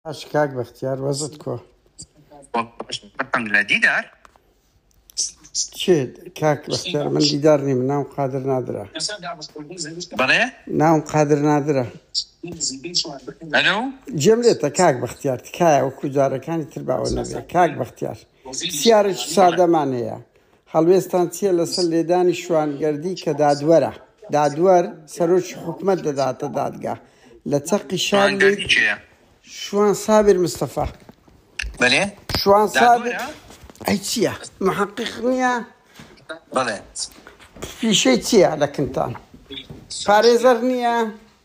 باش کاک بەختیار وەزت کۆ. بەخشم لە دیدار چێت کاک بەختیار من دیدار نیم ناو قادر نادرا بەڵێ ناوم قادر نادرا ئەلو جێم لێتە کاک بەختیار تکایە وەکو جارەکانی تر باوە نەبێ کاک بەختیار پرسیارێکی سادەمان هەیە، هەڵوێستتان چییە لەسەر لێدانی شوانگەردی کە دادوەرە؟ دادوەر سەرۆکی حکومەت دەداتە دادگا لە چەقی شار. شوان سابر مستەفا. بەلێ شوان سابر ئەی چییە محقق نییە؟ بەڵێ پیشەی چییە لە کنتان؟ پارێزەر نییە؟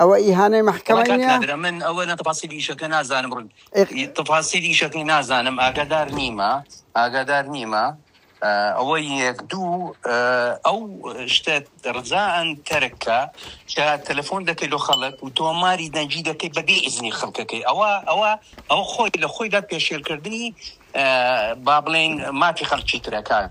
ئەوە ئیهانەی مەحکەمەی نیە؟ کاک نادر من ئەوەنە تەفاسیلی ئیشەکە نازانم ڕوون ئیق. تەفاسیلی ئیشەکەی نازانم ئاگادار نیمە ئاگادار نیمە ئەوە یەک دوو ئەو شتە ڕزائەن تەرک کە کە تەلەفۆن دەکەی لۆ خەڵک و تۆماری دەنگی دەکەی بە بێ ئیزنی خەڵکەکەی ئەوە ئەوە ئەوە خۆی لە خۆیدا پێشێلکردنی با بڵێین مافی خەڵکی ترە کاک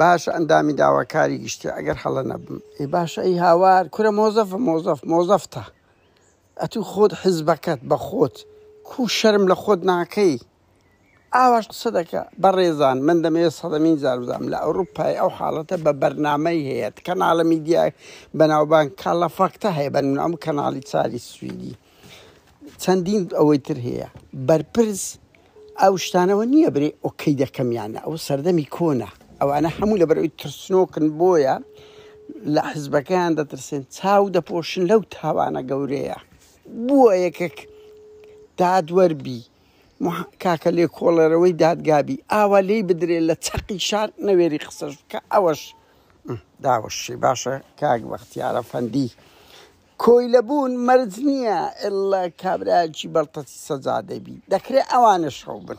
باشە ئەندامی داواکاری گشتی ئەگەر هەڵە نەبم ئی باشە ئی هاوار کورە مۆزەف مۆزەف مۆزەفتە ئەتوو خۆت حزبەکەت بە خۆت کو شەرم لە خۆت ناکەی ئاواش قسە دەکە بەڕێزان من دەمەوێ سەدەمین جار بزانم لە ئەوروپای ئەو حاڵەتە بە بەرنامەی هەیە کەناڵە میدیای بەناوبان کاڵە فەکتە هەیە بەنمونە ئەم کەناڵی چاری سویدی چەندین ئەوەی تر هەیە بەرپرس ئەو شتانەوە نییە برێ ئۆکەی دەکەمیانە ئەو سەردەمی کۆنە ئەوانە هەموو لە بەرەوەی ترسنۆکن بۆیە لە حزبەکەیان دەترسێن چاو دەپۆشن لەو تاوانە گەورەیە بووە یەکێک دادوەربی کاکە لێ کۆڵەرەوەی دادگابی ئاوا لی بدرێت لە چەقی شار نەوێری قسەش کە ئەوەش داوەشی باشە کاک بەختیارە فەندی کۆیلە بوون مەرج نیە اللە کابرایەکی بەڵتەسی سەجادەبی دەکرێ ئەوانەش خەوبن.